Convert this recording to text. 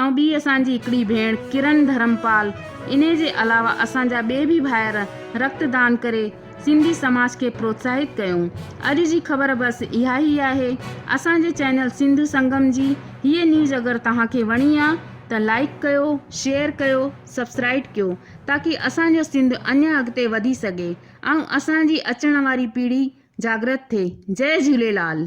۽ ٻي اسان جي هڪڙي ڀيڻ ڪرن ڌرمپال، انهي جي علاوه اسان جا ٻئي به ڀائر رڪت دان ڪري سنڌي سماج کي پروتساهت ڪيو. اڄ جي خبر بس اها ئي آهي. اسان جي چينل سنڌو سنگم جي هيء نيوز اگر توهان کي وڻي آ ته لائيڪ ڪيو، شيئر ڪيو، سبسڪرائيڊ ڪيو تاڪي اسان جو سنڌ اڃان اڳتي وڌي سگهي ۽ اسان جي اچڻ واري پيڙهي جاڳرت ٿئي. جئي جهوليلال.